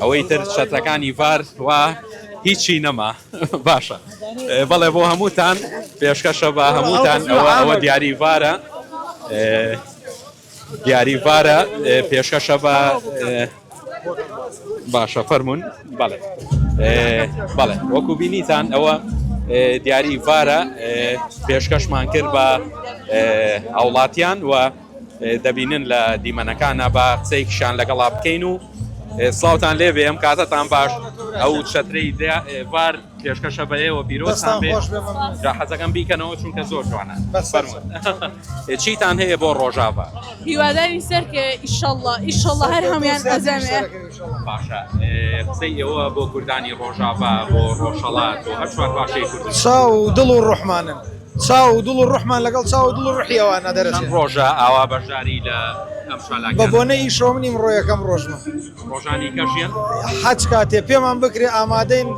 ئەوەی تر چەترەکانی ڤار وا هیچی نەما باشە بەڵێ بۆ هەمووتان پێشکەشە بە هەمووتان ئەوە ئەوە دیاری ڤارە دیاری ڤارە پێشکەشە بە باشە فەرمونون بەڵێ بەڵێ وەکو بینیتان ئەوە دیاری ڤارە پێشکەشمان کرد بە هاوڵاتیان و دەبینن لە دیمەنەکانا با قسەیەکیشان لەگەڵا بکەین و سڵاوتان لێ بێ ئەم کاتەتان باش ئەو چەترەی بار پێشکەشە بە ئێوە پیرۆستان بێ جا حەزەکەم بیکەنەوە چونکە زۆر جوانە بەسەرمون چیتان هەیە بۆ ڕۆژاڤا هیواداری سەرکە ئیشەڵڵا ئیشەڵڵا هەر هەمیان ئەزەمێ باشە قسەی ئێوە بۆ کوردانی ڕۆژاڤا بۆ ڕۆژهەڵات و هەر چوار باشەی کورد ساو دڵ و ڕحمانن چاو و دڵ و ڕوحمان لەگەڵ چاو و دڵ و ڕوحی ئەوانە دەرەچێ. چەند ڕۆژە ئاوا بەشداری لە ئەم چالاکیانە دەکەن؟ بە بۆنەی ئیشەوەم نیم ڕۆ یەکەم ڕۆژمە. ڕۆژانی کەش یەن؟ هەچ کاتێ پێمان بکرێ ئامادەین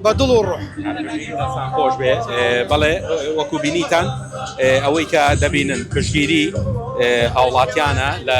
بە دڵ و ڕوح. هەربژین دەستان خۆش بێ. بەڵێ وەکو بینیتان ئەوەی کە دەبینن پشتگیری هاوڵاتیانە لە.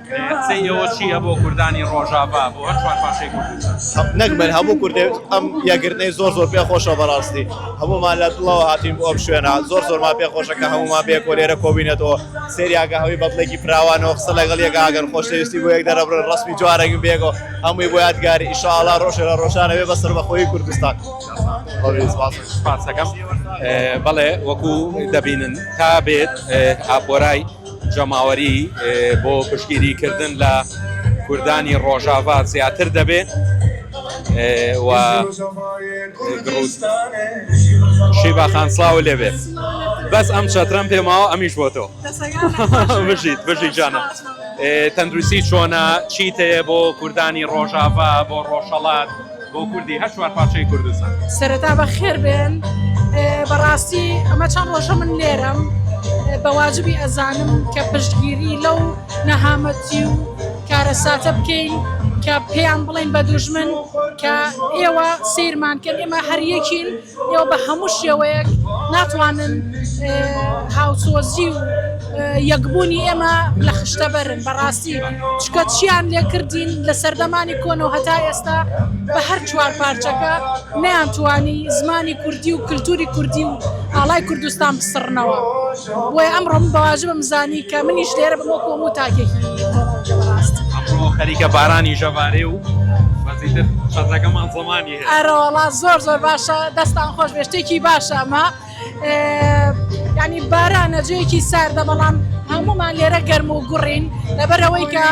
قسەی ئێوە چییە بۆ کوردانی ڕۆژاڤا بۆ هەر چوار پارچەی کوردستان؟ نەک من هەموو کوردێک ئەم یەکگرتنەی زۆر زۆر پێ خۆشە بەڕاستی هەموومان لە دڵەوە هاتین بۆ ئەم شوێنە زۆر زۆرمان پێ خۆشە کە هەموومان بێ کۆلێرە کۆبینەتەوە سریاگە هەوی بەدڵێکی فراوانەوە قسە لەگەڵ یەکە ئەگەر خۆشەویستی بۆ یەک دەرەبرن ڕسمی جوارەگە بێگەوە هەمووی بۆ یادگاری ئیشاڵا ڕۆژێ لە ڕۆژانە بێ بەسەر بەخۆی کوردستان پارسەکەم بەڵێ وەکو دەبینن تا بێت ئاپۆرای جەماوەری بۆ پشگیری کردن لە کوردانی ڕۆژاڤا زیاتر دەبێ و شیبا خان سڵاو لێ بێت بەس ئەم چەترم پێماوە ئەمیش بۆ تۆ بژیت بژی جانە تەندروستی چۆنە چیت هەیە بۆ کوردانی ڕۆژاڤا بۆ ڕۆژهەڵات بۆ کوردی هەر چوار پارچەی کوردستان سەرەتا بە خێر بێن بەڕاستی ئەمە چەند ڕۆژە من لێرەم بەواجبی ئەزانم کە پشتگیری لەو نەهامەتی و کارەساتە بکەین کە پێیان بڵین بە دوژمن کە ئێوە سیرمان کرد ئێمە هەریەکین ئێوە بە هەموو شێوەیەک ناتوانن هاوسۆزی و یەکبوونی ئێمە لە خشتە بەرن بەڕاستی چکە چیان لێ کردین لە سەردەمانی کۆنەوە هەتا ئێستا بە هەر چوار پارچەکە نیان توانی زمانی کوردی و کللتوری کوردی و ئاڵای کوردستان بسڕنەوە بۆی ئەم ڕۆم بەواژبم زانی کە منیش لێرە بۆ کۆم و تاکێکی خەریکە بارانی ژەوارێ و بەزیتر شەزەکەمان زمانی ئەرەوەڵا زۆر زۆر باشە دەستان خۆش بێ شتێکی باشە ئەمە ینی بارانە جێکی ساردە بەڵام هەمومان لێرە گەرم و گوڕین لەبەرەوەی کە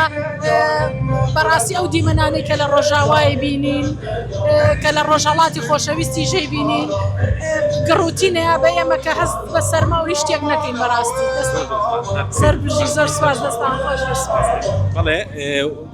بەڕاستی ئەو دیمەنانی کە لە ڕۆژاوای بینین کە لە ڕۆژهڵاتی خۆشەویستی ژەی بینین گڕوتینە بە ئێمە کە هەست بە سەرما و شتێک نەکەین بەڕاستی سەر بژی زۆر سواز دەستان خۆش بڵێ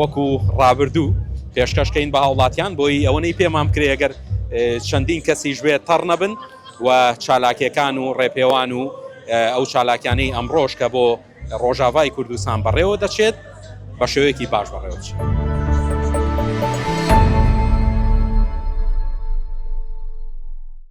وەکو ڕابردوو پێشکەش کەین بە هاوڵاتیان بۆی ئەوەنەی پێمان بکرێ گەر چەندین کەسیش بێت تەڕ نەبن و چالاکیەکان و ڕێپێوان و ئەو چالاکیانەی ئەمڕۆژ کە بۆ ڕۆژاوای کوردستان بەڕێوە دەچێت بە شێوەیەکی باش بەڕێوە بچێت.